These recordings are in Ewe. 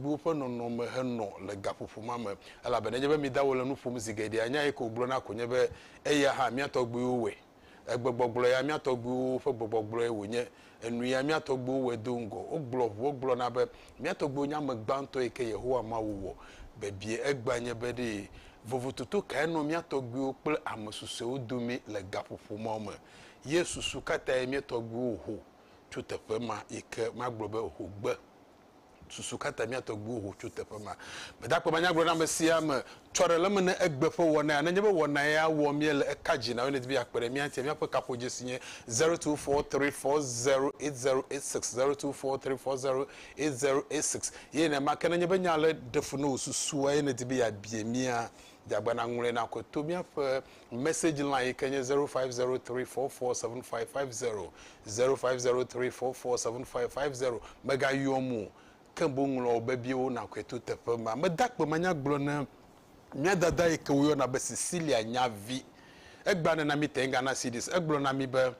bubuwo ƒe nɔnɔme henɔ le gaƒoƒo ma me. Elabe nenye be mi da wòle nu ƒom zi geɖea, nya yi ke wògblɔ na ko nye be, Eya hã mía tɔgbuiwo wɔe. Egbegblɔgblɔ ya mía tɔgbuiwo ƒe gbɔgblɔgblɔe wònye. Enu ya mía tɔgbuiwo wɔe do ŋgɔ. Wogblɔ ʋuwo gblɔna be, Mía tɔgbuiwo nye ame gbãtɔ yi ke Yehowa Mawu wɔ. Bebie egbea nye be ɖe vovototo kae nɔ mía tɔgbuiwo kple ame susɔewo dome le gaƒoƒo mawo me? Ye susu ka tae mía tɔgbuiwo ho tso teƒe ma yi ke magblɔ be ho gbe? susu ka ta mía tɔgbuiwo ho tso teƒe ma. Gbedakpɔ ma nyagblɔɖi ame sia ame tsɔ ɖe le eme ne egbe ƒe wɔna ya. Ne enye be wɔna ya wɔm míele, eka dzi na wo ne di be yeakpe ɖe mía ŋutia. Míaƒe kaƒodzesi nye zero two four three four zero eight zero eight six, zero two four three four zero eight zero eight six. Ye nenema ke ne enye be nya ale ɖe fu na wò susua eye nèdi be yeabia mía, dze agbagba nàŋlɔe nakɔ to míaƒe Message line yi ke nye 0503447550, 0503447550. Mègayɔm o, ke boŋ ŋlɔ wò bebiewo nàkɔe to teƒe ma. Meda akpe manya gblɔ ne mía dada yi ke woyɔna be Cecilia nyavi. Egbea nena míete ŋu gana CDs. Egblɔ na mí be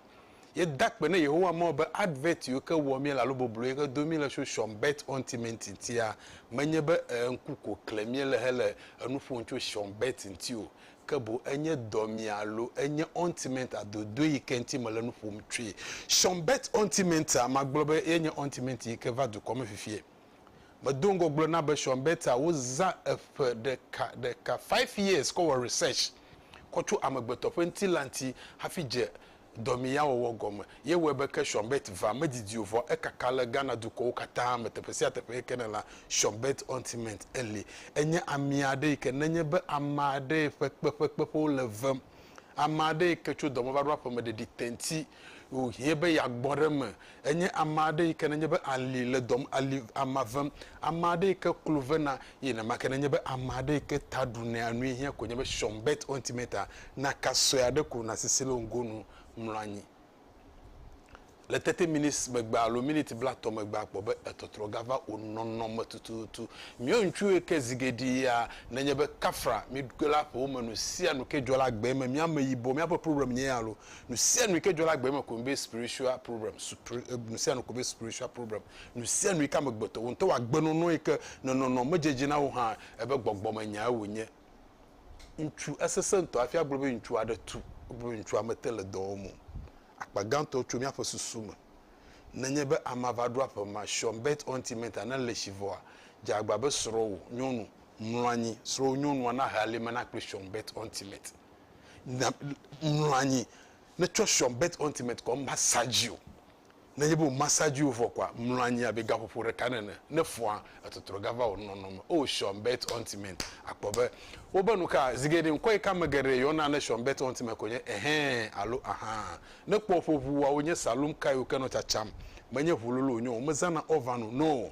yeda akpe ne Yehowa Mawu be advert yiwo ke wɔ míele alo boblo yi ke do mí le tso Sean Bert Ɔnti Me ŋuti ŋutia, menye be ee ŋku ko klem míele hele enu ƒom tso Sean Bert ŋuti o, ke boŋ enye dɔmea alo enye ɔntimɛnta dodoe yi ke ŋuti mele nu ƒom tsoe. Shonbet ɔntimɛnta, magblɔ be ye nye ɔntimɛnti yi ke va dukɔ me fifie. Medo ŋgɔ gblɔ na be shonbeta wozã eƒe ɖeka ɖeka, five years, kɔ wɔ research kɔ tso amegbetɔ ƒe ŋutilã ŋuti hafi dze dɔmeyawɔwɔ gɔme ye wɔe be ke Sean Bett va medidi o vɔ ekaka le Ghana dukɔwo katã me teƒe sia teƒe yi ke nèlã Sean Bett Ointment eli. Enye ami aɖe yi ke nenye be ame aɖee ƒe kpeƒekpeƒewo le vem. Ame aɖe yi ke tso dɔ me va ɖo aƒeme ɖeɖi te ŋti wòhiẽ be yeagbɔ ɖe eme Enye ame aɖe yi ke nenye be ali le dɔm, ali ama vem, ame aɖe yi ke klo vena, eye nenema ke nenye be ame aɖe yi ke ta ɖu nɛ anui hiã koe nye be Sean Bert Ointimeta naka sue aɖe ko nasi si le wò ŋgonu mlɔ anyi. Le thirty minutes megbe alo miniti blatɔ̃ megbe akpɔ be etɔtrɔ gava wò nɔnɔme tututu. Míawo ŋutsuwo yi ke zi geɖe ya nenye be kafra mí ɖokui la ƒe wome nu sia nu ke dzɔ le agbee me, mí ameyibɔ, míaƒe problem nye ya loo, Nusianu yike dzɔ ɖe agbe me koe be spiritual problem, nusianu koe be spiritual problem, nusianu yike amegbetɔ, wò ŋutɔ wò agbenɔnɔ yike nɔnɔnɔ me dzedze na wò hã ebe gbɔgbɔme nyae wònye. Ŋutsu, esesẽ ŋutɔ hafi agblɔ be ŋutsu aɖe tu, wogblɔ be ŋutsua mete le dɔ wɔm o. Akpa gãtɔ tso míaƒe susu me. Nenye be amea va ɖo aƒe ma, Sean Bert Ointment ane le tsi vɔa, dze agba be srɔ̃wò nyɔnu mlɔ anyi, srɔ̃wò nyɔnua nahe alime na kple Sean Bert Ointment. nya mlɔ anyi ne tsɔ sɔ bet ultimate kɔ massage o ne nye be o massage o vɔ kɔa mlɔ anyi abe gaƒoƒo ɖeka nene ne fɔa etɔtrɔ gava o nɔnɔ me o sɔ bet ultimate akpɔ be wo be nuka zige ɖe ŋkɔ yi ka me geɖe yɔ na ne sɔ bet ultimate ko nye ehɛn alo aha ne kpɔ ƒo ʋu wa wo nye salum ka yi wo ke nɔ tsatsam me nye ʋu lolo nyo o me zana ovan o no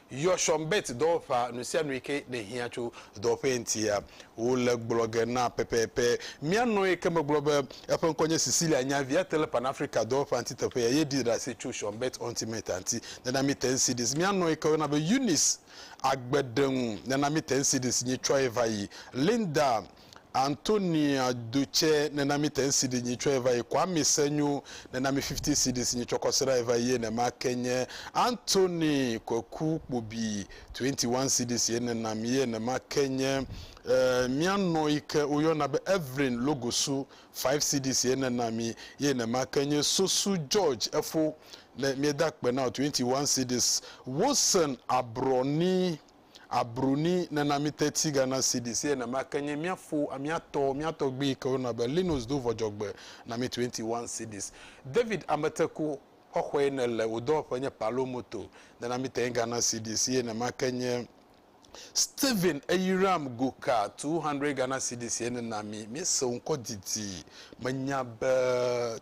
Yɔ Sean Bett dɔwɔƒea nusianu yi ke nèhiã tso dɔwɔƒee ŋutia. Wole gblɔ ge na pɛpɛpɛ. Mía nɔ yi ke megblɔ be eƒe ŋkɔ nye Cecilia nya via te le Pan-Afrika dɔwɔƒea ŋuti teƒe ya ye ɖi ɖase tso Sean Bett Ontimeta ŋuti. Nena mi ten cedis. Mía nɔ yi ke woyɔna be Eunice agbe ɖe ŋu. Nena mi ten cedis. Nyitsɔe va yi. Linda Antonia do tsɛ nena mi tɛn sidi nyi tsɔɛ vayi kɔ ami se nyo nena mi fifty cedis nyi tsɔkɔ srai vayi ye nɛ ma ke nye Antoni kɔku kpobi twenty one cedis ye nena mi ye nɛ ma ke nye eh, mia nɔ yi ke wo yɔna be Evelyn logosu five cedis ye nena mi ye nɛ ma ke nye sosu George efo nɛ mie da kpe na o twenty one cedis Wilson abrɔ ni. abru ni nena mi teti gana sidi si ena ma kenye mia fo amia tɔ mia tɔgbi ke wona be linos do vɔjɔgbe na mi 21 sidis david ameteku xɔxɔe ne le wo dɔwɔƒe nye palo moto nena mi tɛn gana sidi si ena ma kenye steven eyiram goka 200 gana sidi si ena mi mi se ŋkɔ didi menya be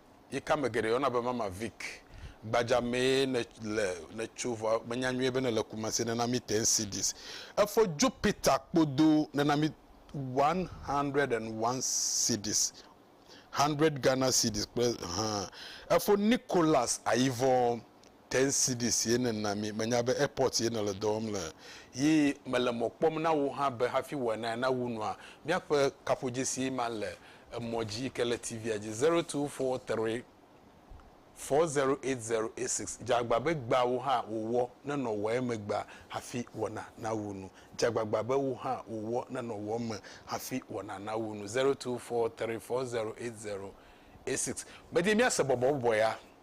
yi ke ame geɖe yɔna be Mama Vic. Gbadza mee ne le ne tso vɔ menya nyuie be ne le Kumasi ne na mi ten cedis. Efo Jupiter kpo do ne na mi 101 cedis, hundred Ghana cedis kple haa. Efo Nicholas Ayivɔ ten cedis ye nena mi. Menya be airport ye nèle dɔ wɔm le. Ye mele mɔ kpɔm na wò hã be hafi wòanae na wu nua, míaƒe kaƒodzesi ma le emɔ dzi yi ke le TV-a dzi, zero two four three four zero eight zero eight six. Dze agba be gbea wò hã wòwɔ ne nɔ wɔe me gbea hafi wɔna na wu nu. Dze agbagba be wò hã wòwɔ ne nɔ wɔ me hafi wɔna na wu nu, zero two four three four zero eight zero eight six. Medi míase bɔbɔbɔbɔea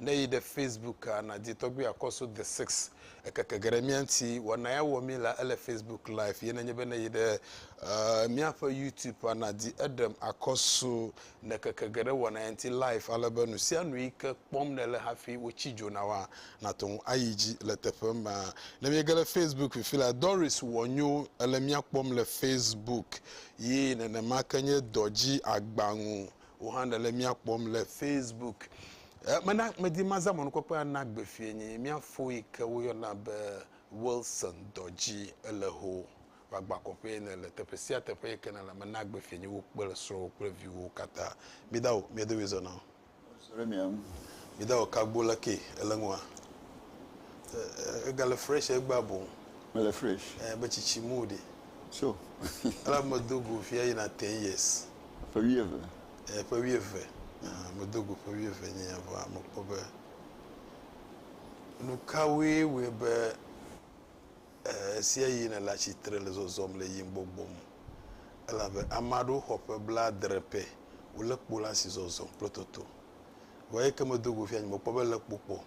Ne èyi ɖe Facebooka, nàdi tɔgbi akɔsu The Six. Ekeke ge ɖe mía ŋuti. Wɔna ya wɔ mí la, ele Facebook Live. Ye nenye be ne èyi ɖe uh, míaƒe YouTubea, nàdi eɖem akɔsu. Nekeke ge ɖe wɔna ya ŋuti live ale be nu sia nu yi ke kpɔm nèle hafi wotsi dzo na woa, nàte ŋu ayi dzi le teƒe ma. Ne míege ɖe Facebook fifi la, Doris Wɔnyo, èle mía kpɔm le Facebook. Yi nenema ke nye dɔ dzi agba ŋu. Wò hã nèle mía kpɔm le Facebook. Mena medi mazã mɔnukpɔkpɔe ana gbe fie nye mía fo yi ke woyɔna be Wilson dɔ dzi. Ele ho wòagbã kɔƒee ne le teƒe sia teƒe yi ke nèle. Mena gbe fie nye wò kple srɔ̃wò kple viwòwo katã. Mida wò, mía domee zɔna o. Zɔ ɖe mía ŋu. Mida wò kagbo la ke. Èle ŋua? Ègale fresh egbea boŋ. Mele fresh. Ẽ, be tsitsi mu ɖi. Tso. Ela medo go fia yina ten years. Ƒe wuieve. Eh, ƒe wuieve. Ah, medo go ƒe wuieve nye ya vɔa mekpɔ be nu kawoe wɔe be eh, esia yi nele atsitre le zɔzɔm le yim gbɔgbɔ me. Elabe ame aɖewo xɔ ƒe blaadre pɛ wole kpo la si zɔzɔm kple toto. Vɔ eyi ke medo go fia nye mekpɔ be le kpo kpɔ.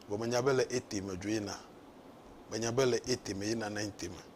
Vɔ menya be le ete me dzo yina. Menya be le ete me yina nine te me.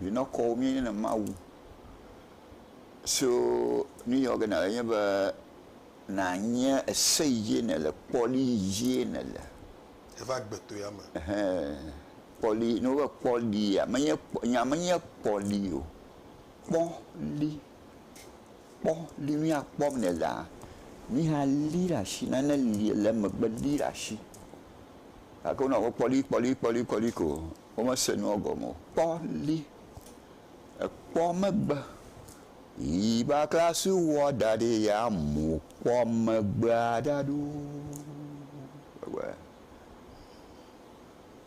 Vinɔkɔwo míenye le Mawu so nu yɔ ge na wò enye be nànye ese yi dzie nèle, kpɔli yi dzie nèle. Eva gbe to ya me. Ehɛ, kpɔli, ne wova kpɔlia, menye kpɔ, nya menye kpɔli o, kpɔli, kpɔli, nu ya kpɔm nèlea, nu ya li ɖe asi, nane li le emegbe li ɖe asi. Gake wonɔ be kpɔli, kpɔli, kpɔli, kpɔli ko Womese nua gɔme o. Kpɔ li, ekpɔ megbe. Yi bakla si wowɔ da ɖi ya mu kpɔ megbea ɖa ɖo. Ewɔe.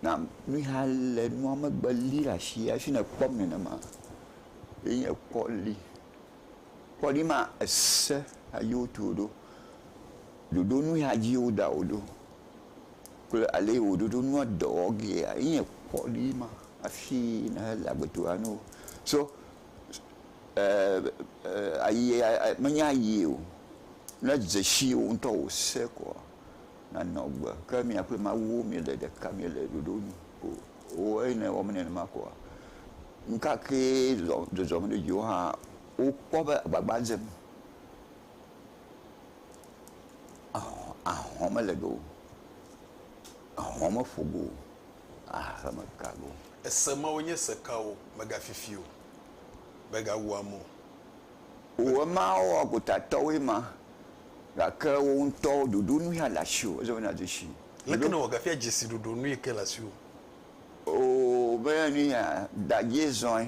Na mi hã le nua megbe li ɖe asi hafi nèkpɔ nenema. Ye nye kpɔ li. Kpɔ li ma ese ayi wotu ɖo. Ɖoɖo nu ya dzi woda wò ɖo kple ale yi wò ɖoɖo nua dɔ wɔ gea ye nye kpɔɖi ma hafi nèhe le agbetɔɣia nu o. So menye ayi o. Ne edze si wò ŋutɔ wò se koa, nànɔ agbe. Ke mia kple Mawu miele ɖeka, miele ɖoɖo nu o. Ooh eyi ne ewɔ mí nenema koa, nu ka kee zɔzɔm ɖe dziwò hã, wokpɔ be agbagba dzem. ahɔ̃ mele ɖe o. Ahɔ̃ meƒo go o. Ahe meka ɖe o. Ese mawo nye se kawo? Mègafifi o. Mègawu ame o. Wò emawo wɔ gotatɔwoe ma, gake wò ŋutɔ wò ɖoɖonui hã le asiwò. Ezɔ yina du si. Leke nèwɔ gafia dzesi ɖoɖonui ke le asiwò? Oo, menye nu ya. Dadzie zɔe.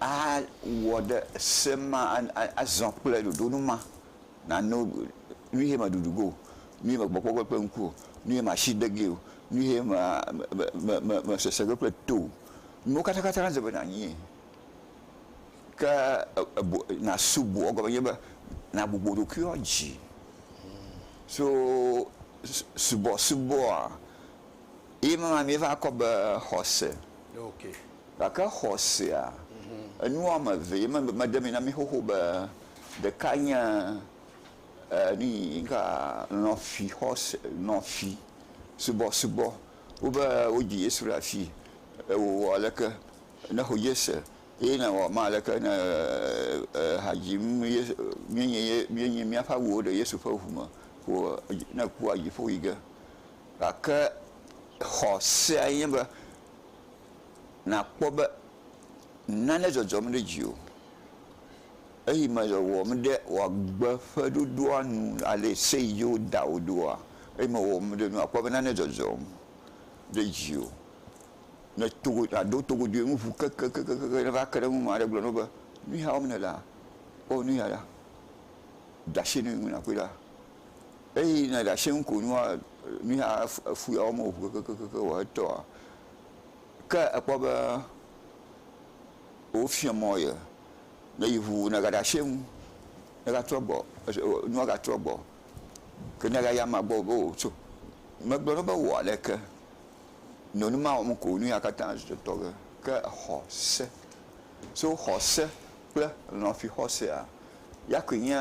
awɔ ɖe se ma, azɔ kple ɖoɖonu ma, nano nu ye meɖuɖu ge o, nu ye mekpɔkpɔ ge kple ŋku o, nu ye masi de gee o, nu ye mesese ge kple to o, nuwo katakata nadze be nanyie. Ke nasubɔ egɔme nye be, nagbugbɔ ɖokuiwò dzi. So subɔsubɔa, Ye me ma míeva kɔ be xɔse. Okay. Gake xɔsea, enu wɔme eve ye me mede mi na mi xoxo be ɖeka nye e nuyi ŋka lɔ̃fi xɔse lɔ̃fi subɔsubɔ wo be wodzi Yesu ɖe asi e wòwɔ aleke ne xɔ Yese eye nawɔ ma aleke ne e ha dzim ye míenye ye míenye míaƒe awuwo ɖe Yesu ƒe ŋu me ko ne kua dziƒo yi ge. Gake xɔ seae nye be, nàkpɔ be nane dzɔdzɔm ɖe dziwò eyi me le wɔwɔm ɖe wò agbe ƒe ɖoɖoa nu ale se yi dzi woda wò ɖoa, eyi me le wɔwɔm ɖe nua, àkpɔ be nane dzɔdzɔm ɖe dziwò. Ne togo, nàdo togodoe ŋu ŋu kekekekekeŋ ne eva ke ɖe eŋu ame aɖe gblɔ na wò be, Nu ya wɔm nèlea, kpɔ nu ya ɖa, de asi nu yi ŋu nàkpɔe ɖa. Eyi ne ɖa shɛŋ ko nua nuya efu ya wɔm o kekekekekeɔ etɔa ke ekpɔ be wo fiɔ mɔ ye ne yi ŋu ne ga ɖa shɛŋ ne ga trɔ gbɔ nua ga trɔ gbɔ ke ne ga yi ama gbɔ be o so me gblɔ nɔ be wɔ leke nɔ numa wɔm ko nuya katã tɔge ke exɔ se so xɔ se. kple lɔ̃fixɔsea. Ya koe nye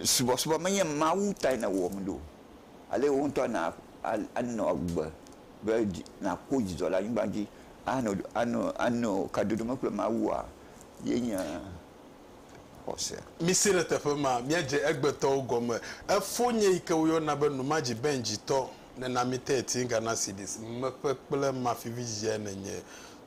subɔsubɔ menye Mawu tae nèwɔm ɖo, ale wò ŋutɔ nà anɔ agbe be nàkpɔ dzidzɔ le anyigba dzi ano ano ano kadodo me kple Mawua ye nye xɔse. Misi ɖe teƒe ma, míadze egbetɔwo gɔme. Efo nye yi ke woyɔna be Numadzi Benji tɔ, Nenamite Etinga Nasidis, Mmeƒe kple Mafivi dzidziae nènye.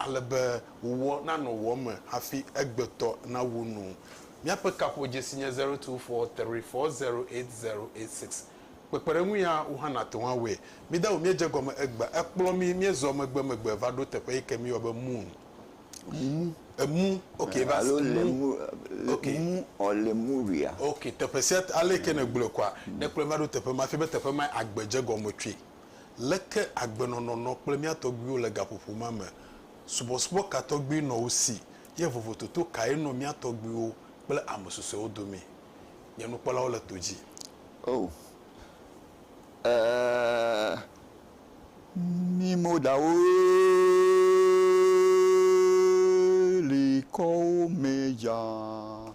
ale be wòwɔ nanɔ wò me hafi egbetɔ nawu nu. Míaƒe kaƒodzesi nye zero two four three four zero eight zero eight six. Kpekpeɖeŋu ya wò hã nàte ŋu awɔe. Mída wò míedze gɔme egbea, ekplɔ mí míezɔ megbemegbe va ɖo teƒe yi ke míeyɔa be moon. Emu. Emu. Ok, va se. Alo Emu. lemu, Ok. emu ɔ Lemuria. Ok, teƒe sia te, ale yi ke nègblɔe koa, ne ekplɔe va ɖo teƒe ma, efia be teƒe mae agbedze gɔme tsoe. Leke agbenɔnɔ nɔ kple mía tɔgbuiwo le gaƒoƒo ma me? Subɔsubɔ ka tɔgbi nɔ wo si, ye vovototo kae nɔ mía tɔgbuiwo kple ame susɔewo dome? Nye nukpɔlawo le to dzi. Oh, ɛɛ, mí modawo li kɔ wo mɛ dza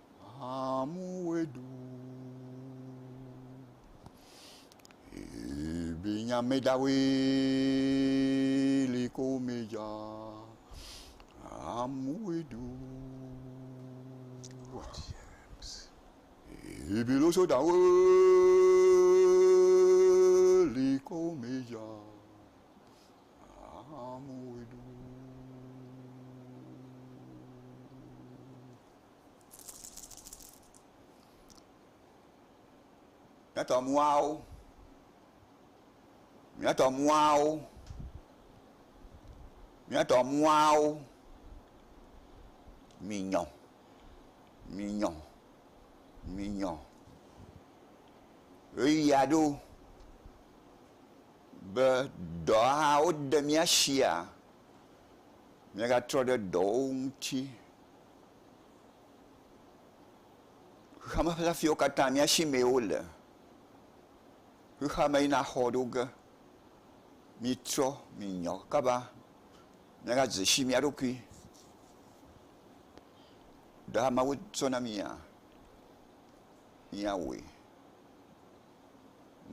Amu wedu. Ebi nya me da we li ko me ja. Amu wedu. What? Ebi lo so da we li ko me ja. Amu wedu. Míatɔ mɔawo, míatɔ mɔawo, míatɔ mɔawo, minyɔ, minyɔ, minyɔ. Ɣeyiɣi aɖewo be dɔhawo de mía sia, míagatrɔ ɖe dɔwo ŋuti. Xexeame ƒe afiwo katã mía si mee wole. Xexeame yina xɔ ɖo ge. Mitrɔ minyɔ kaba míagadze si mía ɖokui. Ɖe amewo sɔ na mía, míawɔe.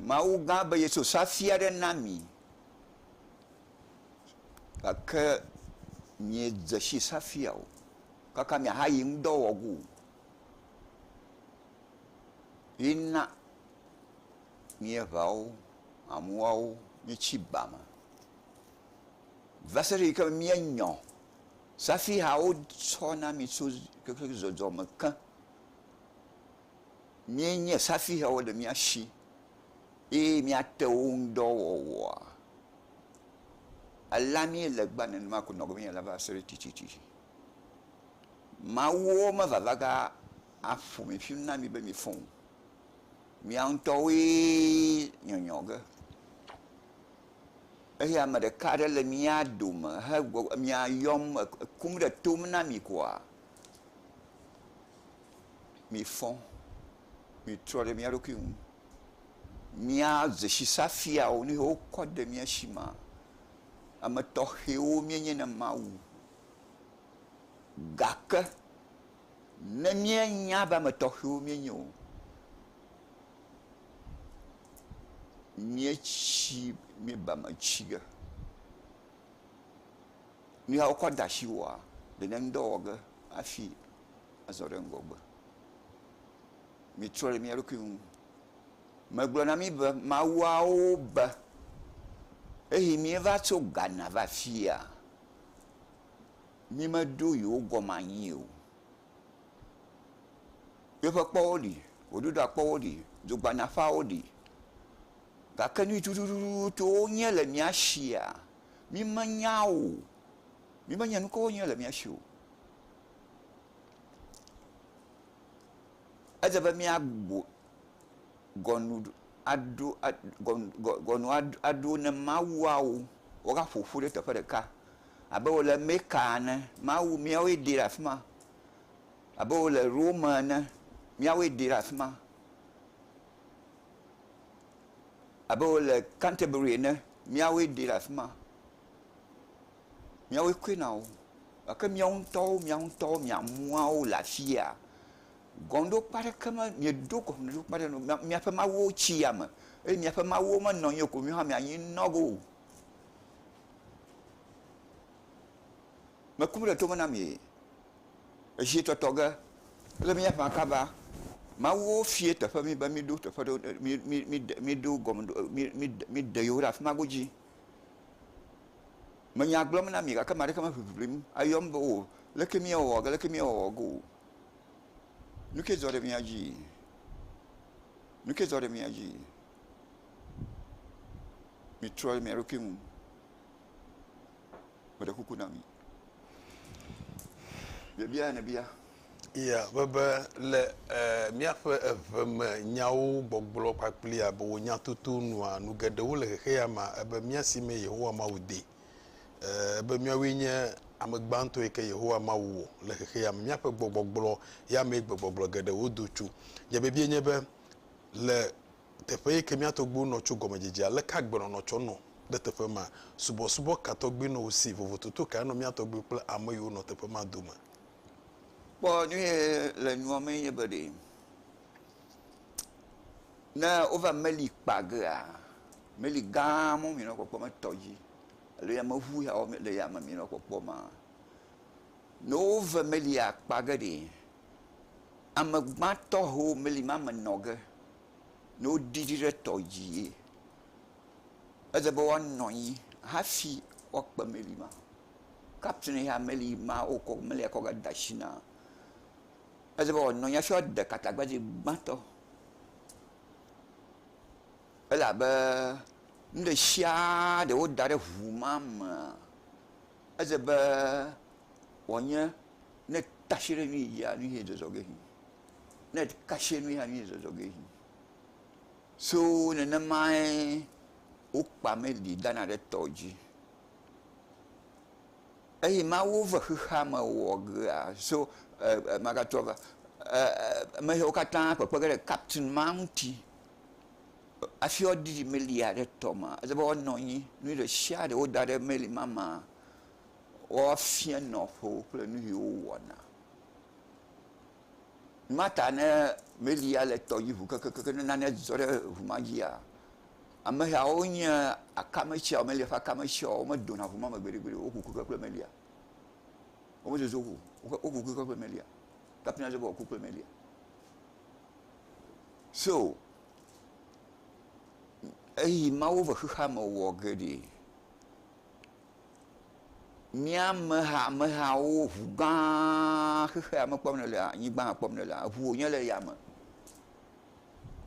Mawu gã be yeso safia ɖe na mi. gake miedze si hafi o kaka miahayi ŋudɔ wɔ ge o. Ye na míeŋeawo ameawo míetsi ba me va se ɖe yi ke míenyɔ hafi ha wotsɔ na mi tso kekle zɔzɔme ke. míenye safihɛwo le mía shi eye míate wo ŋu dɔ wɔwɔa, alea míele gbea nenema ko nɔ agbɔ míele va se ɖe tsitsitsi. Mawuwo mevavaga aƒo mi ƒi na mi be mifɔ o. Mia ŋutɔwoe nyɔnyɔ ge. Eye ame ɖeka aɖe le mía dome hegbɔ mia yɔm ekum ɖe tom na mi koa? mifɔ, mitrɔ ɖe mía ɖokui ŋu. Mía dzesisafiawo, nu yiwo wokɔ de mía si maa, ame tɔxɛwo míenye na Mawu. Gake ne míenya be ame tɔxɛwo míenye o, míetsi, míeba eme tsi ge. Nu ya wokɔ de asiwòa, ɖe nèŋdɔ wɔ ge hafi azɔ ɖe ŋgɔgbe. Mitrɔ le mia ɖokui ŋu. Megblɔ na mi be mawuawo be, eyi mieva tso Ghana va fia, mi me ɖo yewo gɔme anyi o. Yeƒe kpɔwo ɖi, gbeɖuɖɔa kpɔwo ɖi, dzogbana ƒeawo ɖi, gake nu yi tutututuwo nye le mia shia, mi me nya o. Mi me nya nukawo nye le mia shi o. Edze be míagbugbɔ gɔnu aɖo a gɔnu aɖo ne mawuawo woaƒo ƒu ɖe teƒe ɖeka abe wòle Meka ene. Mawu míawoe ɖi le afi ma. Abe wòle Rome ene, míawoe ɖi le afi ma. Abe wòle Canterbury ene, míawoe ɖi le afi ma. miawoe koe na wo gake miawo ŋutɔwo mia ŋutɔwo mia muawo le afi ya gɔmeɖokpe aɖeke me mieɖo gɔmeɖokpe aɖeke me o miaƒe mawuwo tsi ya me eye miaƒe mawuwo menɔ anyi o ko miwo hã mianyi nɔ wo o. Meku ɖe tome na mi ezietɔtɔ ge le miaƒe akaba mawuwo fia teƒe mi be miɖo teƒe ɖe mi mi mi miɖo gɔmeɖo mi mi mi miɖe yewo ɖe afi ma godzi. Me nya gblɔm na mi gake ame aɖeke me ʋiʋiʋlim ayɔm be o leke mi awɔ ge leke mi awɔ ge o. Nu ke dzɔ ɖe mia dzi? Nu ke dzɔ ɖe mia dzi? Mi trɔ ɖe mia ɖokui ŋu. Me ɖe kuku na mi. Biabia ne bia. Ya, be, be le ɛɛ míaƒe eve me nyawo gbɔgblɔ kpakpli abe wò nyatoto nua, nu geɖewo le xexeya mea, ebe mía si mee Yehowa Mawu de. Ɛɛ, ebe míawoe nye ame gbãtɔ yi ke Yehowa Mawu wɔ le xexeya me. Míaƒe gbɔgbɔgblɔ ya mee gbegbɔgblɔ geɖewo do tso. Nye bibie nye be le teƒe yi ke mía tɔgbuiwo nɔ tso gɔmedzedzea, aleke agbenɔnɔ tsɔ nɔ ɖe teƒe ma? Subɔsubɔ ka tɔgbi nɔ wo si? Vovototo kae nɔ mía tɔgbuiwo kple ame yiwo nɔ teƒe ma dome? Kpɔ nyuie le nua me nye be ɖe, ne wova meli kpa gea, meli gã ma mi nɔ kpɔkpɔm le tɔ dzi alo yameŋu ya wo le yame mi nɔ kpɔkpɔ ma, ne wove melia kpa ge ɖe, ame gbãtɔ ho meli ma me nɔ ge ne woɖi ɖi ɖe tɔ dzie, ele be woanɔ anyi hafi woakpe meli ma. kapteni ya meli ma wokɔ meli akɔ ga de asi na o. Edi be wòanɔ anyi hafi woade katagbadze gbãtɔ. Elabe nu ɖe sia ɖe woda ɖe ŋu ma mea, edze be wòanye ne tasi ɖe nu yi dzia, nu ye zɔzɔ ge yi, ne kasi ɖe nu yia, nu ye zɔzɔ ge yi. So nenemae wokpa meli dana ɖe tɔ dzi. Eye Mawu ve xexea me wɔ gea so e, e, magatrɔ va e, e, me siwo katã kpekpe ge ɖe kaptin ma ŋuti hafi woadidi meli aɖe tɔ ma. Ede be woanɔ anyi nu ɖe sia ɖe woda ɖe meli ma ma woafia nɔƒewo kple nu siwo wɔna. Mata ne meli ya le tɔdzi ʋu kekekeke ne nane dzɔ ɖe ʋu ma dzia, ameyawo nye akame tsiawo, melia ƒe akame tsiawo, wome dona ʋu ma me gbeɖe gbeɖe o, woku keke kple melia. Wome zozo ʋu o, woku keke kple melia. Kapten la dzɔ be woaku kple melia. So, eyi mawo ve xexeame wɔ geɖe Mía ameha amehawo ŋu gã xexea me kpɔm nèlea, anyigba hã kpɔm nèlea, ŋu wònye le yame.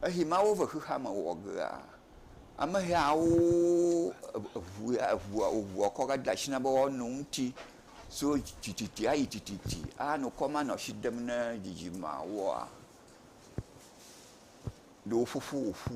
Esi Mawu ve xexea me wɔ gea, amehawo ŋu ya ŋua ŋua kɔ va de asi na be woano eŋuti tso tsitsitsi ayi tsitsitsi anɔ kɔm anɔ asi dem na dzidzimeawoa, ɖe woƒoƒu wòƒu.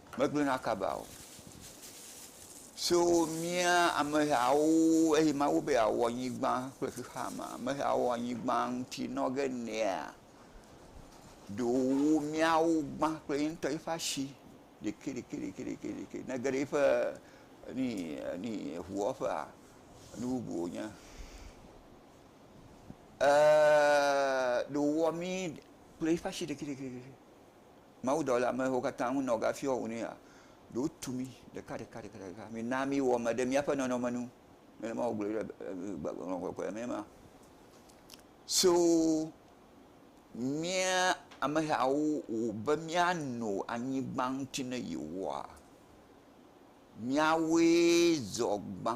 Megblɔ na Akab be, Ao, tso mía amehawo, eye mawu be yeawɔ anyigba kple xexea me amehawo anyigba ŋuti nɔ ge nɛa? Ɖo wo míawo gbã kple ye ŋutɔ yiƒe asi ɖekɛɖekɛɖekɛɖekɛ ne ge ɖe yiƒe ni ni ʋuwɔƒea nu bubu wònye. Ee, ɖo wòwɔ mí kple yiƒe asi ɖekɛɖekɛɖekɛ. mawudɔla mewo katã ŋu nɔ gafiɔ ŋu nɛa? Ɖo tu mí ɖekaɖekaɖekaɖeka, mina míwɔ me ɖe míaƒe nɔnɔme nu. Nenema wògblɔe ɖe Gbɔgbɔ Kɔkɔea mee ma. So mía amehawo ŋu be míano anyigba ŋuti ne Yehowa. Míawoe zɔ gbã.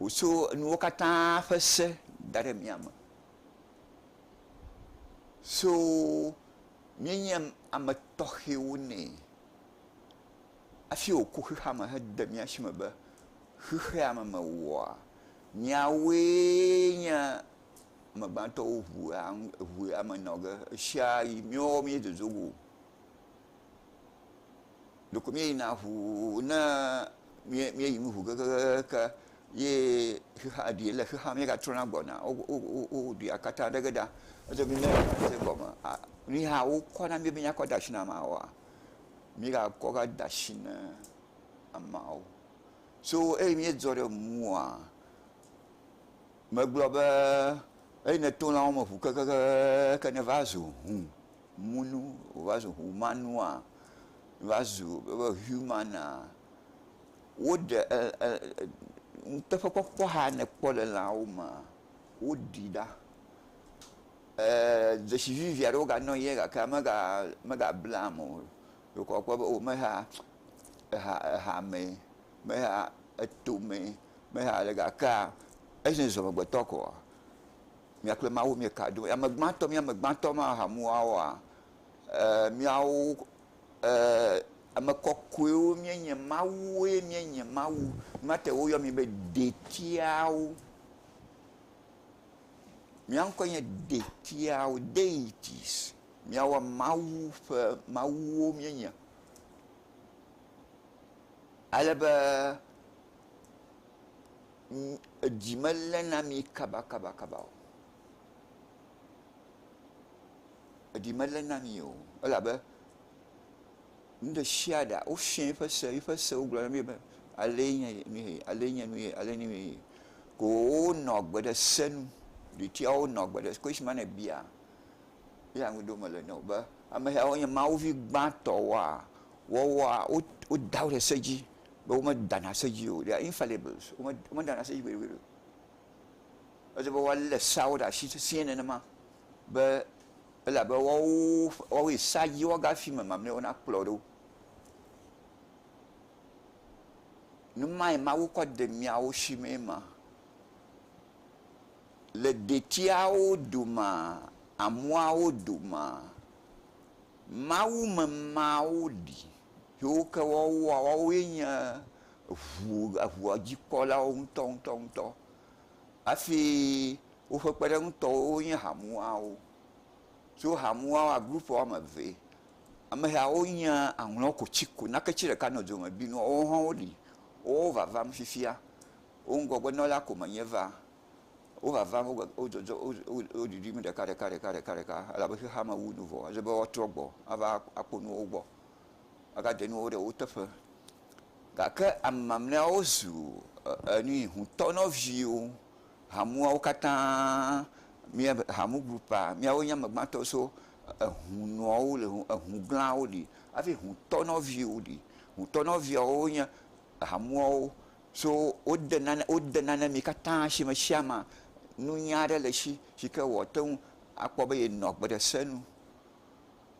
Wòtsɔ nuwo katã ƒe se da ɖe mía me. So míenye ame tɔxɛwo nɛ hafi wòku xexea me hede mía si me be xexea me mewɔa míawoe nye ame gbãtɔwo ŋu ŋu ame nɔ ge ɣesiaɣi míewɔwɔ míedodo go. Ɖeko míeyina ŋuu ne míeyi nu ŋu kekeake ye xexea ɖi le xexea me míegatrɔna gbɔna o. Wowu dua katã ɖe ge ɖa. Edzɔ be ne ese gɔme aa nu yi hã wokɔ na mí be míakɔ de asi na ameawoa, míegakɔ va de asi na ameawo. So eyi míedzɔ ɖe ŋua, megblɔ be eyi nèto lãwo me ŋu kekeake nèva zu ŋu Munu wòva zu humanua, va zu wobe humana. Woɖe e e e nuteƒekpɔkpɔ xa ne èkpɔ le lãwo mea, woɖii ɖa. E dzesi vivi aɖe woganɔ ye gake mega megabla ame o. Ɖeko akpɔ be o mexa exa exa mee, mexa eto mee, mexa ɖe gakea ezo zɔmegbetɔ koa. Mia kple Mawu mie ka ɖom. Ame gbãtɔ, mía ame gbãtɔ ma hamua oa? E, míawo, e, ame kɔkɔewo mía nye. Mawue mía nye. Mawu. Mía te woyɔ mí be detiawo. Mía ŋkɔe nye detiawo, deities. Míawo Mawu ƒe mawuwo mía nye. Ale be. edzi melé na mi kabakabakaba o. Edzi melé na mi o elabe nu ɖe sia ɖea wofiã eƒe se, eƒe sewo gblɔ na mi be alee nye nu ye, alee nye nu ye, alee nye nu ye. Ko wonɔ agbe ɖe se nu. Ɖetiawo nɔ agbe ɖe ko esime ne èbia eya ŋu ɖom mele nɛ o be, Ameyawo nye Mawu vi gbãtɔwoa? Woawoa, woda wo ɖe se dzi. be womedana ase edzi o. They are infallibles. Womedana ase edzi gbeɖegbeɖe o. Ele be woalé seawo ɖe asi sesĩe nenema be ele abe woawo ƒe, woawoe sea dzi woaga hafi ame mamlɛwo nakplɔ ɖo. Nu mae Mawu kɔ de miawo si mee ma. Le detiawo domaa, amuawo domaa, Mawu me mawo li. Yewo ke woawoa, woawoe nye ʋu, ʋua dzi kpɔlawo ŋutɔ ŋutɔ ŋutɔ. Hafi woƒe kpeɖeŋutɔwo wonye hamuawo. Tso hamuawoa, group woame eve, ame siawo nye aŋlɔ ko tsi ko, nake tsi ɖeka nɔ dzome bi nua, woawo hã woli. Woawo vavam fifia. Wo ŋgɔgbe nɔla ko me nye va. Wo vavam, wo gbe, wo dzɔdzɔ, wo, wo, wo ɖiɖim ɖeka ɖeka ɖeka ɖeka ɖeka elabe xexeame wu nu vɔ. Ele be woatrɔ gbɔ ava kpɔ nuwo gbɔ. magade nuwo ɖe wo teƒe gake ame mamleawo zu enui ŋutɔ nɔviwo hamua wo katã mía hamu grupua míawo nye ame gbãtɔ so eŋunɔwo li eŋu glãwo li hafi ŋutɔ nɔviwo li ŋutɔ nɔviawo nye hamuawo so wode nane wode nane mi katã si me sia me nunya aɖe le si si ke wɔte ŋu akpɔ be yenɔ gbe ɖe se nu.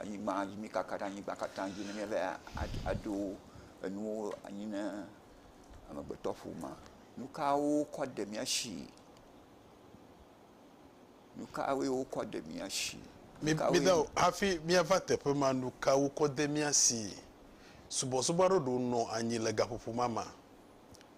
anyigba dzi, míkaka ɖe anyigba katã dzi ne míeva aɖo enuwo anyi ne amegbetɔƒomea. Nu kawo wokɔ de mía si? Nu kawoe wokɔ de mía si? Nu kawoe- Mídao hafi míava teƒe ma, nu kae wokɔ de mía si? Subɔsubɔ aɖewo ɖo nɔ anyi le gaƒoƒo ma me.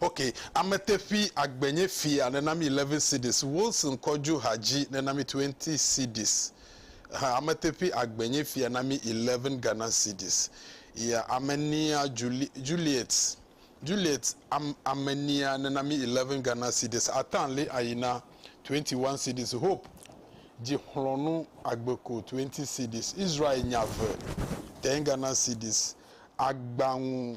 Ok, ame teƒi agbe nye fia nena mi 11 cedis, Wilson Kɔdju Hadji nena mi 20 cedis, ha, ame teƒi agbe nye fia na mi 11 Ghana cedis, ya, ame nia Juli, Juliet, Juliet am, ame nia nena mi 11 Ghana cedis, Atan li ayina 21 cedis, Hope dzi xlɔnu agbe ko 20 cedis, Israel nya ve 10 Ghana cedis, agbaŋu.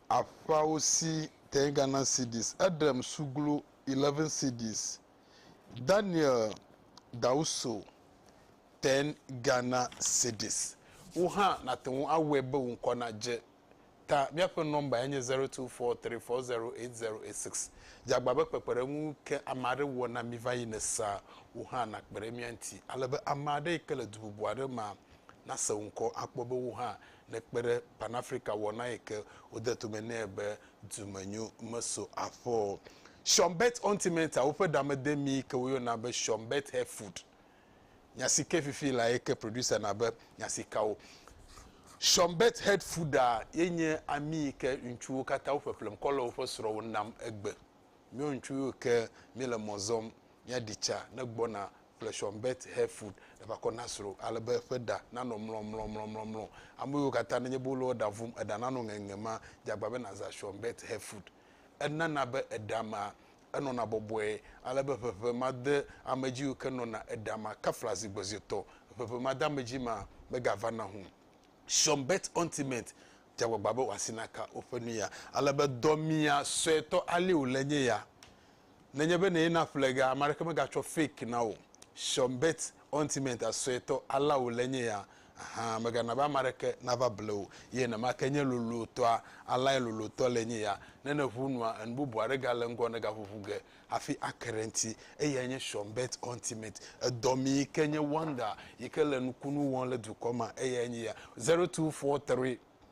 Aƒeawo si tẽe Ghana cedis, Edrem Suglu, 11 cedis, Daniel Dauso, 10 Ghana cedis. Wò hã nàte ŋu awɔe be wò ŋkɔ nadze ta. Míaƒe nɔmbae nye 0243408086. Dze agbagba be kpekpeɖeŋu ke ame aɖe wɔ na mí va yi ne sea, wò hã nàkpe ɖe mía ŋuti ale be ame aɖe yi ke le du bubu aɖe mea nase wò ŋkɔ akpɔ be wò hã nekpe ɖe Pan-Afrika wɔna yi ke wode tome nɛ be Dumenyo Meso Aƒe o. Shonbet Ontimenta, woƒe ɖamedemi yi ke woyɔna be Shonbet Hair Food. Nya si ke fifi la ye ke producer na be nya si ka wo. Shonbet Head Fooda ye nye ami yi ke ŋutsuwo katã wo ƒeƒlem kɔ le woƒe srɔ̃wo nam egbe. Míawo ŋutsuwo yi ke míele mɔ zɔm míaɖi tsa ne gbɔna kple Sean Bert Herford neva kɔ na srɔ̃ ale be eƒe ɖa nanɔ mlɔmlɔmlɔmlɔmlɔ. Ame yiwo katã nenye be wole wò ɖa vum eɖa nanɔ ŋeŋe ma, dze agbagba be nàzã Sean Bert Herford. Enana be eɖa ma enɔna bɔbɔe ale be ʋeʋẽ madeamedzi yiwo ke nɔna eɖa ma kafla zi gbɔ zi etɔ̃. Ʋeʋẽ madeamedzi ma megavana o. Sean Bert Ointment dze agbagba be wòasi naka woƒe nuya ale be dɔ mia suetɔ alea wòle nye ya nenye be nèyi na ƒlega ame aɖeke megatsɔ fake na wò Seumbet Ointment a suetɔ alea wòle enye ya hã, mègana be ame aɖeke nava ble wò ye nenema ke nye lolotɔa alea lolotɔ le enye ya. Ne nèʋu nua, enu bubu aɖe gale ŋgɔ nègaʋuʋu ge hafi ake ɖe eŋuti, eyae nye Seumbet Ointment. Edɔ mi yi ke nye Wonder yi ke le nukunu wɔm le dukɔ mea, eyae nye ya. Zero two four three.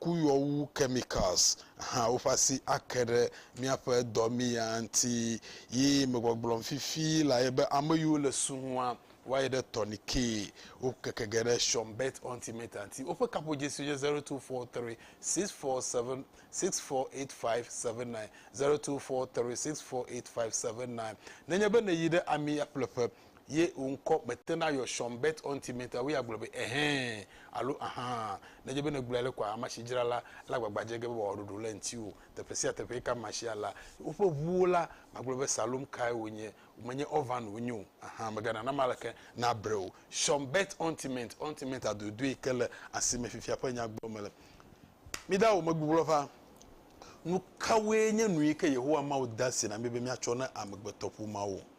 kuyɔwu, chemicals, hã woƒe asi ake ɖe míaƒe dɔ mi ya ŋuti. Yi megbɔgblɔm fifi la ye be ame yiwo le su ŋua, woayi ɖe tɔnike. Wo keke ge ɖe Sean Bett Ontimeta ŋuti. Woƒe kaƒo dzesi nye 024364764857902436485790. Nenye be nèyi ɖe ami ya ƒleƒe ye wò ŋkɔ metena yɔ Sean Bet Ɔnti me ta woya gblɔ be ɛhɛ̃ alo ahan. Nedze be nègblɔe ale koa, amesi dzra la le agbagba dze ge be wòawɔ ɖoɖo le ŋutiwò. Teƒe sia teƒe yi ke amea si alé woƒe ʋuwo la, magblɔ be Salom kae wònye, menye Orvan wònye o, ahan, mègana name aleke nabre o. Sean Bet Ɔnti me Ɔnti me ta dodoe yi ke le asi me fifia ƒe nya gblɔm mele. Mida wò megbugbɔ ƒã. Nukawoe nye nu yi ke Yehowa Mawu de asi na mí be míatsɔ na amegbetɔƒomeawo?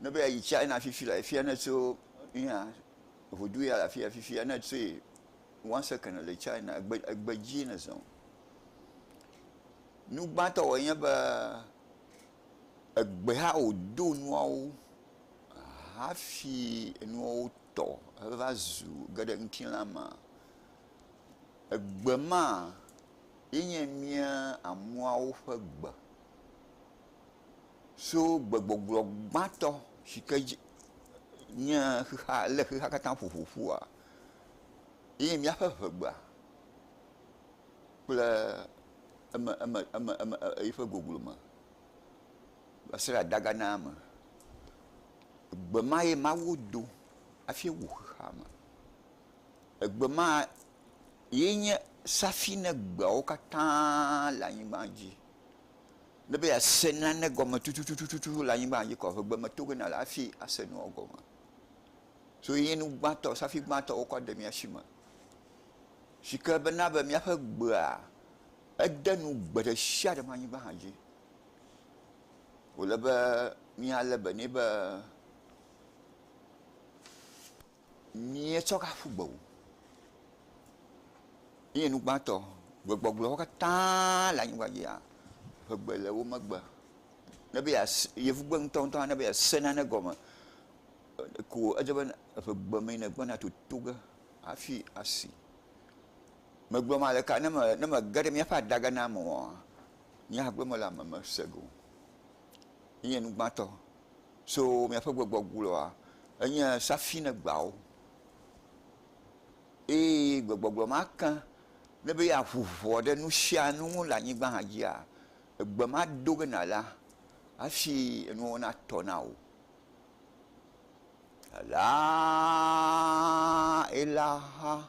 ne be yeayi China fifi le fia ne tso nuya ŋudu ya le afia fifia ne tsoe one second le China egbe egbe dzi ne zɔ. Nu gbãtɔ wɔ nye be egbe ha wòdo nuawo hafi enuawo tɔ heva zu ge ɖe ŋutilã ma. Egbe ma ye nye mía ameawo ƒe gbe. so gbegbɔgblɔ gbãtɔ si ke dzi nye xexea lé xexea katã ƒo ƒu ƒua ye míaƒe ŋegbea kple eme eme eme eme e eƒe goglo me va se ɖe adaga na eme. Egbe ma ye Mawu do hafi wɔ xexea me. Egbe ma ye nye safi na egbeawo katã le anyigba dzi. Ne be yease nane gɔme tutututu le anyigba dzi kɔ, ŋegbe meto ge nale hafi ase nua gɔme. So ye nye nu gbãtɔ, safi gbãtɔ wokɔ de mía shi me. Si ke be na be míaƒe gbea, ede nu gbe ɖe sia ɖe ƒe anyigba hã dzi. Wòle be míalé be nɛ be. Míetsɔ gaƒu gbe wò. Míenye nu gbãtɔ. Gbegbɔgblɔwo katã le anyigba dzia, ƒe gbe le wo megbe. Ne be yease, yevugbe ŋutɔŋutɔ hã, ne be yease nane gɔme ko edze be ƒe gbe mee nègbɔna toto ge hafi asi. Megblɔ male ka ne me, ne mege ɖe míaƒe adage na ame oa, míagblɔ mele ame me se ge o. Míenye nu gbãtɔ. So miaƒe gbɔgbɔ gblɔa enye safi ne gbeawo, eye gbɔgbɔ gblɔ ma ke ne be yeaʋu ʋɔ ɖe nu sia nu ŋu le anyigba hã dzia, egbe ma do ge nàla hafi enuwo natɔ na wò. Alea ela ha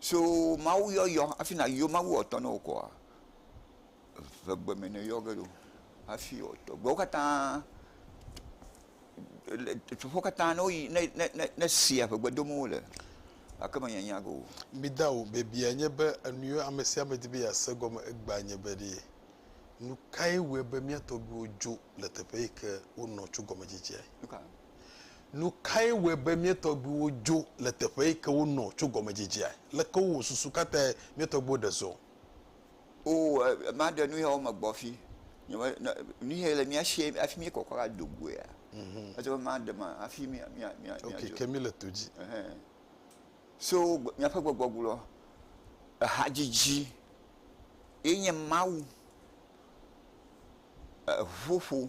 So Mawu yɔyɔ hafi nàyɔ Mawu wòatɔ na wò kɔa, eve gbe me nèyɔ ge ɖo hafi wòatɔ. Gbewo katã, teƒewo katã ne woyi, ne, ne, ne, ne sea ŋe gbe dom wole gake menyanya ge o. Mida o, biabia nye be, enuyiwo amesiame di be yease egɔme egbea nye be ɖe nukae wɔe be mía tɔgbuiwo dzo le teƒe yike wonɔ tso gɔmedzidzea? Nuka? Nu kae wɔe be mía tɔgbuiwo dzo le teƒe yi ke wonɔ tso gɔmedzedziea? Leke wowɔ susu katãe mía tɔgbuiwo ɖe zɔ? Oo, maɖe nu ya wo me gbɔfi. Nyeme, ne, nu ya le mía sie hafi míekɔkɔ va do goea, ete ŋu maɖe ma hafi mía, mía, mía, Ok, míadzo. ke míle to dzi. Ɛhɛn. So gbe- míaƒe gbɔgbɔgblɔ, ehadzidzi ye nye Mawu, eŋuƒoƒo.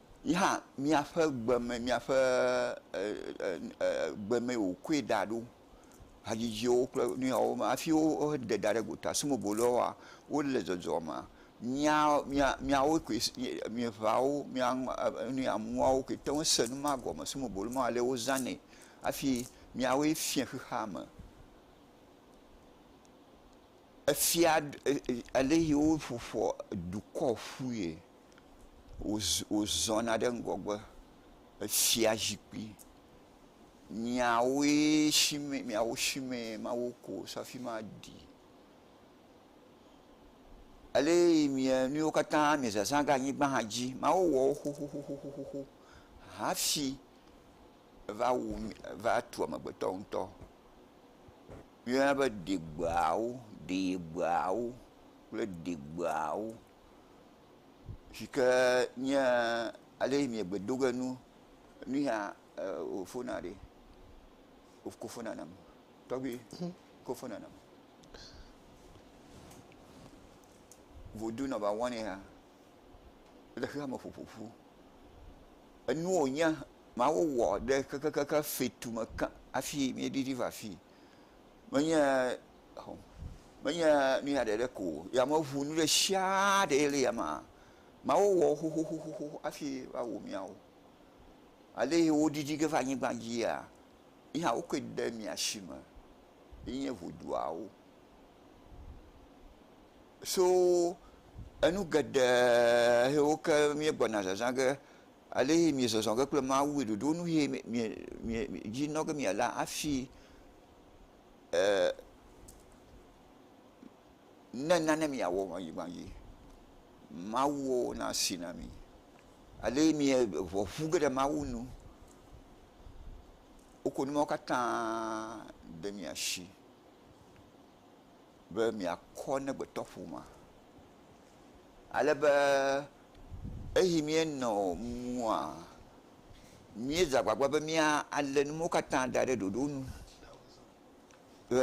Yi hã míaƒe gbe me míaƒe gbe me wòkɔe da ɖo hadzidziwo kple nu yawo hafi woɖe da ɖe gota sime wòle woa wole dzɔdzɔmea mía mía míawo koe mieveawo mía nu ya muawo koe te ŋu se nu ma gɔme sime wòle ma ale wozanɛ hafi míawoe fia xexea me. Efia ale yi woƒoƒoa dukɔ ƒue. wozɔna ɖe ŋgɔgbe. Efia zikpui miawoe si me miawo si me mawo ko wosi afi ma ɖi. Ele yi mia nuwo katã mia zazã ɖe anyigba hã dzi. Mawu wɔ wo xoxoxo hafi eva wu eva tu amegbetɔ ŋutɔ. Woyɔna be degbeawo, ɖegbea wo kple degbeawo. si ke nye ale yi miegbe do ge nu nu ya wò fona ɖi wokɔ fona nam tɔgbi kɔ fona nam vodu nɔba wɔn ya le xexea me ƒoƒoƒu enu wònya mawo wɔ ɖe kekekeke fetu me ke hafi míeɖiɖi va fi menye menye nu ya ɖeɖe ko o, yameʋu nu ɖesiaa ɖe le yame Mawu wɔ wo xoxoxo hafi va wɔ miawo. Aleyi wo ɖiɖi ge va anyigba dzia, yi hã wokɔe de mia si me yi nye ʋuduawo. So enu geɖe yiwo ke mía gbɔna zazã ge, aleyi mia zɔzɔ ge kple Mawu yi ɖoɖo nu yi mia mia dzi nɔ ge mia la hafi eer ne nane miawɔ le anyigba dzi, Mawuɔ na si na mi. Ale mie ŋɔ ŋu ge ɖe Mawu nu. Woko nu mawo katã ɖe mia shi be miakɔ ne gbetɔƒomea. ale be eyi míenɔ mumua, míedze agbagba be míalé nuwo katã da ɖe ɖoɖo nu be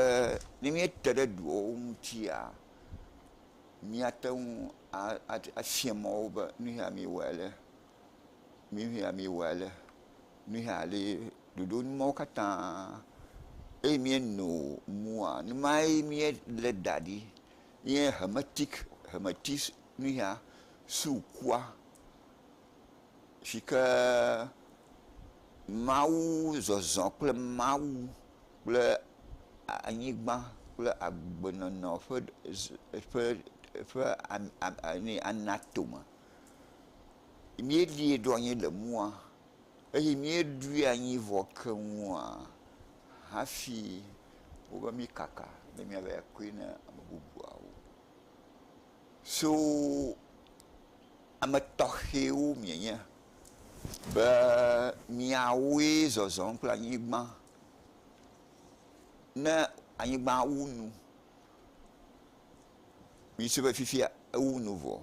ne míete ɖe duawo ŋutia, míate ŋu afia mɔ wo be nu ya miwɔe ale, nu ya miwɔe ale, nu ya ale. Ɖoɖo nu mawo katã eyi míenɔ mumua numae míelé da ɖi. nye Hermetic Hermetis nuya sukua si ke Mawu zɔzɔ kple Mawu kple anyigba kple agbenɔnɔ ƒe ƒe ƒe ame ame ame anatome. Míeɖie ɖo anyi le mɔa. Eye míeɖui anyi vɔ keŋua hafi wobe míkaka be míava akɔe na ame bubuawo. So ame tɔxɛwo mienye be miawoe zɔzɔm kple anyigba. Ne anyigba wu nu, mise be fifia ewu nu vɔ.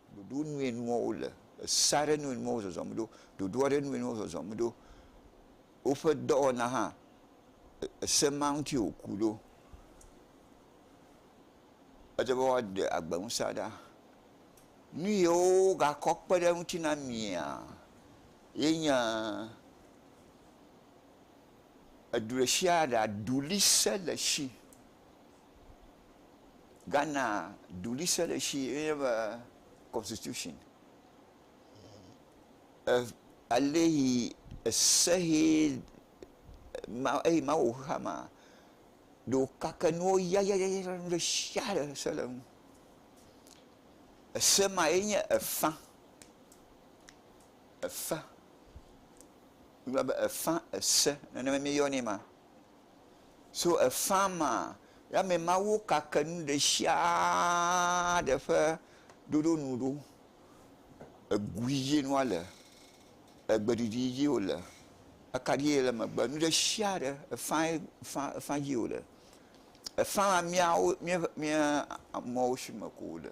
Ɖoɖo nue nuwo wo le, esa ɖe nue nuwo zɔzɔm ɖo, ɖoɖoa ɖe nue nuwo zɔzɔm ɖo. Woƒe dɔwɔna hã, ese ma ŋuti wo ku ɖo. Ede be woa ɖe agbe ŋusea ɖa. Nu yi wo ga kɔ kpe ɖe eŋuti na mia, ye nye edu ɖe shia ɖa ɖuli se le shi. Ghana duɖise ɖe si ye nye be constitution aleyi ese he eyi mawu ƒe xexea mea ɖewo kake nuwo yayayaya nu ɖe sia ɖe se le eŋu. Ese ma ye nye efã, efã, wogayɔna be efã ese nene mi yɔnɛ ma. So efã ma, Yame Mawu kake nu ɖe sia ɖe ƒe ɖoɖo nu ɖo, egui dzie nua le, egbe ɖiɖi dzie wòle, akaɖie le megbe, nu ɖe sia ɖe, efã ye, efã, efã dzie wòle. Efã ma míawo, míaƒe, mía amewo si me ko wòle.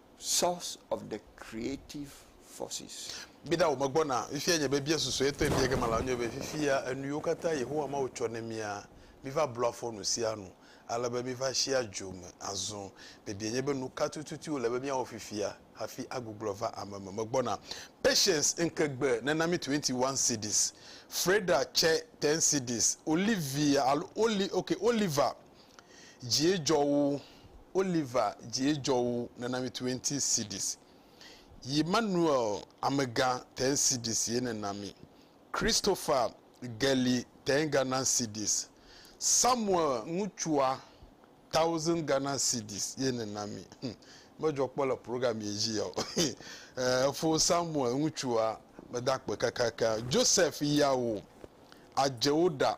source of the creative forces. Miɖa wo me gbɔna. Fifia nye biabia susuetɔe bia ge mala enye be, Fifia, enuyiwo katã Yehowa Mawu tsɔ ne mía, míva blua fɔ nusianu ale be míva sia dzo me azɔ. Biabia nye be, Nuka tututu wòle be míawɔ fifia hafi agbuglɔ va ame me megbɔna? Patience Nkegbe nena mi twenty one cedis. Freda tsɛ ten cedis. Olivia alo Oli, okay, Oliver Dzie dzɔ wu, Oliver dzie dzɔ wu nena mi twenty cedis. Yi Manuel amega ten cedis ye nena mi. Christopher geli ten Ghana cedis. Samuel ŋutsua thousand Ghana cedis ye nena mi. Hm, medzɔ kpɔ le program ye dzi yao. Efo Samuel ŋutsua meda kpe kakaka. Joseph ya wo adzewo ɖa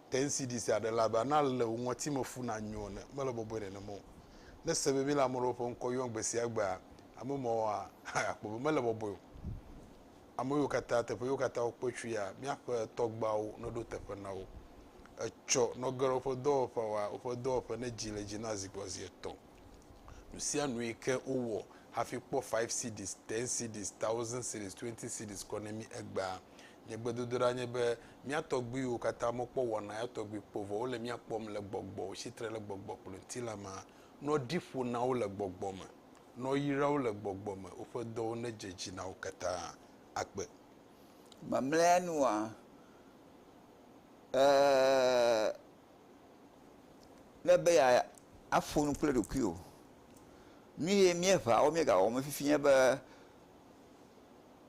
Te ŋsi ɖi sia ɖe la be ana le wò ŋɔtime fu nanyo ene. Mele bɔbɔe nenema o. Ne ese be míele ame ɖewo ƒe ŋkɔ yɔm gbe sia gbea, ame mawoa, akpɔ be mele bɔbɔe o. Ame yiwo katã, teƒe yiwo katã wokpe tsoea, míaƒe tɔgbeawo neɖo teƒe na wo. Etsɔ nɔge ɖe woƒe dɔwɔƒeawoa, woƒe dɔwɔƒe nedzi le edzi na zi gbɔ zi etɔ̃. Nu sia nu yi ke wowɔ hafi kpɔ Five Cds, Ten Cds, Thousand Cds, Twenty Cds kɔ ne mí egbea, Nye gbedodoɖa nye be mía tɔgbuiwo katã mekpɔ wɔna ya tɔgbi kpɔ o, vɔ wole mía kpɔm le gbɔgbɔ, wotsi tre le gbɔgbɔ kple ŋutilã me, ne woɖi ƒo na wo le gbɔgbɔ me, ne woyra wo le gbɔgbɔ me, woƒe dɔwo nedze edzi na wo katã. Akpe. Mamlɛa nua, e le be ya aƒo nu kple ɖokuiwò. Nu ye míeŋa wo míegawɔm fifi nye be,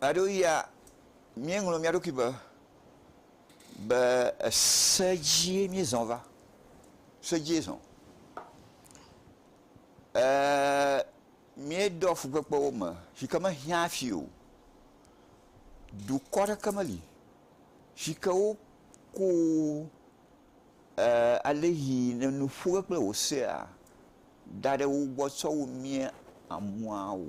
Gaɖoɣia míeŋlɔ mía ɖokui be, be ese dzie míezɔ va, se dzie zɔ. Eeee míeɖɔ fukpekpewo me si ke mehiã hafi o. Dukɔ aɖeke meli si ke woku eeee alesi le nu ƒo ge kple wò sea da ɖe wo gbɔ tsɔ wu mía amua o.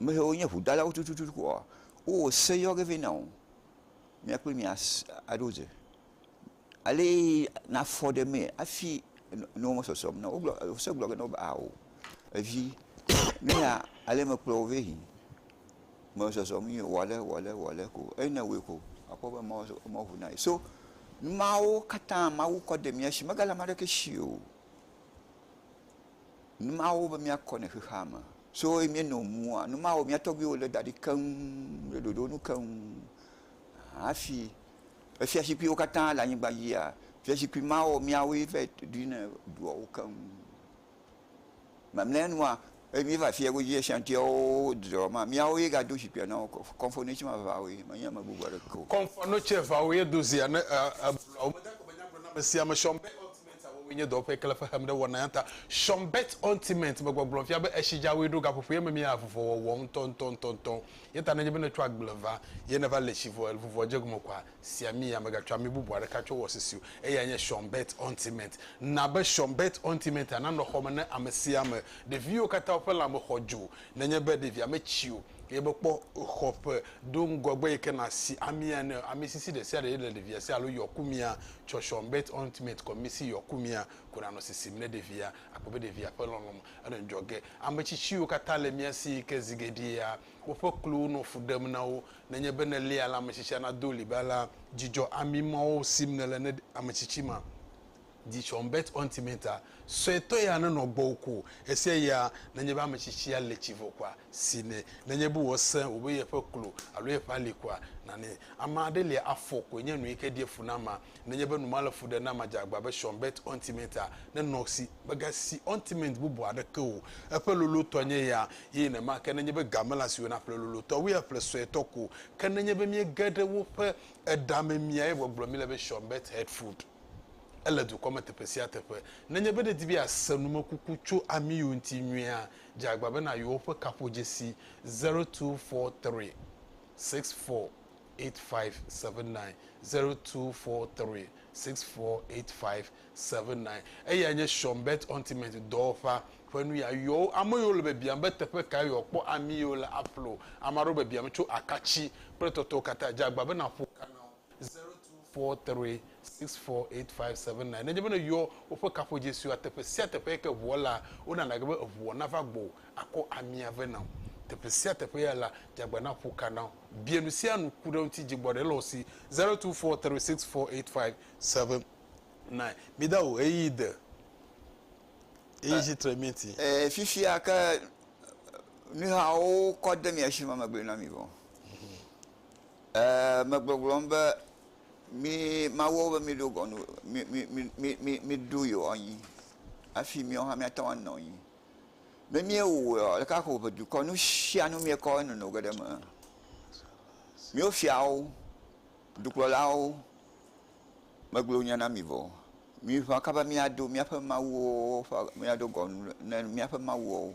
Ame siwo nye ŋudalawo tututu koa, wowɔ se yɔ ge vɛ na wò. Mía kple mi as aɖo dze. Alee na fɔ ɖe mee hafi nuwo me sɔsrɔ̃m na wò. Wogblɔ se gblɔ ge na wò be ao evi nu ya alee mekplɔ wò vɛ yi. Me zɔzɔm yi wɔ ale wɔ ale wɔ ale ko eyi ne ewɔe ko akpɔ be emɔ zo emɔ ŋu na ye. So numawo katã Mawu kɔ de mía si megale ame aɖeke si o. Nu mawo be míakɔ ne xexea me. Tso ɣi míenɔ mua, nu mawo mía tɔgbuiwo lé da ɖi keŋ le ɖoɖo nu keŋ. Hafi efiazikpuiwo katã le anyigba dzia, fiazikpui mawo míawoe va yi ɖui ne ɖoa wo keŋ. Mamlɛanua, ɣe míeva fia godzi Ashantiawo dzɔ ma, míawoe gado zikpuia na wo. Kɔnfonotsi ma eveawoe, menye ame bubu aɖeke o. Kɔnfonotsi eveawoe do zia ne eblɔa wo. Megagblɔ nyagblɔɖi na amesiamesi be, Sia wɔwoe nye dɔwɔƒe kle xexem ɖe wɔnaya ta. Sean Bert Ointment me gbɔgblɔ fia be esi dzaoe ɖo gaƒoƒo ye memia avuvɔwɔwɔ ŋutɔŋutɔŋutɔŋutɔ ye ta nenye be nètso agble va ye nèva le tsi vɔ vuvɔ dze gome koa, sia mia megatsɔ ami bubu aɖeke tsɔ wɔ sisi o. Eyae nye Sean Bert Ointment. Na be Sean Bert Ointment-a nanɔ xɔme ne amesiame. Ɖeviwo katã woƒe lãme xɔ dzo Nenye be ɖevia metsi o, eye mekpɔ xɔ ƒe ɖo ŋgɔgbe yi ke nasi amia ene o, ami sisi ɖe sia ɖe le ɖevia si alo yɔkumia, tsɔtsɔ, bet ont met, kɔmisi, yɔkumia, ko nanɔ sisim ne ɖevia. Akpɔ be ɖevia ƒe lɔlɔ̃me nɔ ŋdzɔ ge. Ame tsitsiwo katã le mía si yi ke zi geɖea woƒe klowo nɔ fu ɖem na wo. Nenye be nèlia la, ame tsitsia nado ɣli be, Alea dzidzɔ ami mawo sim nèle ne ame tsitsi ma. Dzi tsɔm bet ɔ ŋti mɛ ta. Sɔɛ tɔ ya ne nɔ gbɔwo ko. Esia ya ne nye be ame tsitsi ya le tsi vɔ koa, si nɛ. Ne nye be wɔ se wo be ye ƒe klo alo ye ƒe ali koa, na nɛ. Ame aɖe lia afɔ koe nye nu yi ke ɖie fu na ma. Ne nye be nu ma le fu ɖe na ma dze agba be tsɔm bet ɔ ŋti mɛ ta. Ne nɔ si, mega si ɔ ŋti mɛ ŋti bubu aɖeke o. Eƒe lolo tɔ nye ya. Ye yi ne ma ke ne nye be ga me la si wena ƒle lolo tɔ woe ya ƒle sɔɛ tɔ ko. Ke ne nye be mie ge ɖe woƒe eɖa me mia ye gbɔgblɔ mi le be tsɔm bet head food. Ele dukɔ me teƒe sia teƒe. Nenye be nèdi be yease numekuku tso amiwo ŋuti nyuiea, dze agbagba be nàyɔ woƒe kaƒodzesi zero two four three six four eight five seven nine, zero two four three six four eight five seven nine. Eyae nye Sean Beth Ultimate dɔwɔƒea ƒe nuya. Yɔ wo. Ame yiwo le biabiam be teƒe kae yewoakpɔ amiwo le aƒle o. Ame aɖewo biabiam tso akatsi kple tɔtɔwo katã. Dze agbagba be nàƒo ka na wo. 02436485799 Nenye be nèyɔ woƒe kaƒodzesiwoa, teƒe sia teƒe yi ke ʋua laa, wonana gbe be eʋua nava gbɔwò akɔ amia vɛ na wò. Teƒe sia teƒe ya la, dze agbagba naƒo ka na wo. Bia nu sia nu, ku ɖe eŋuti, dzi gbɔ ɖe le wo si. 02436485799 Mida wò ɣeyiɣi de eye tsi tre mía ŋuti. Ee, fifia ke nuyawo kɔ de mia si ma, megblɔe na mi vɔ. Megbɔgblɔm be mi mawɔwo be mi ɖo gɔnu mi ɖu yewo anyi afi mi hã mia teŋu anɔ anyi. Ne mi wɔe oa ɖeka ko ƒe dukɔ nu sia nu mi kɔ enono geɖe eme. Miwo fiawo, dukplɔlawo me gblɔ nya na mi vɔ o. Mi ʋã kaba mia ɖo miaƒe mawuwo ƒe mia ɖo gɔnu ne miaƒe mawuwo.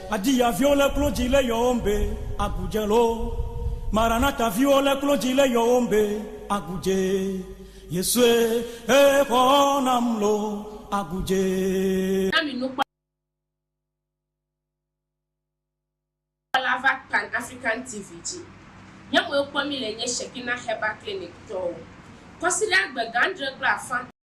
Adi ya viwo le klo dzi le yɔwom be agudje lo. Maranata viwo le klo dzi le yɔwom be agudje. Yesue he xɔ nam lo agudje. Na mi nukpɔla va Pan African TV dzi. Nye mɔe kpɔ mi le nye Shekinah Herbal Clinic tɔwo. Kɔsiɖa gbe gãdre kple afã.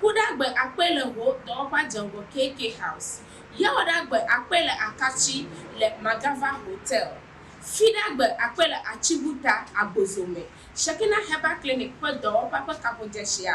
Ku ɖagbe akpɔe le wò dɔwɔƒea dze ŋgɔ KK House. Yawɔ ɖagbe akpɔe le Akatsi le Magava Hotel. Fi ɖagbe akpɔe le Atsibuta, Agbozo me. Shekinah Herbal Clinic ƒe dɔwɔƒea ƒe kaƒodzeshia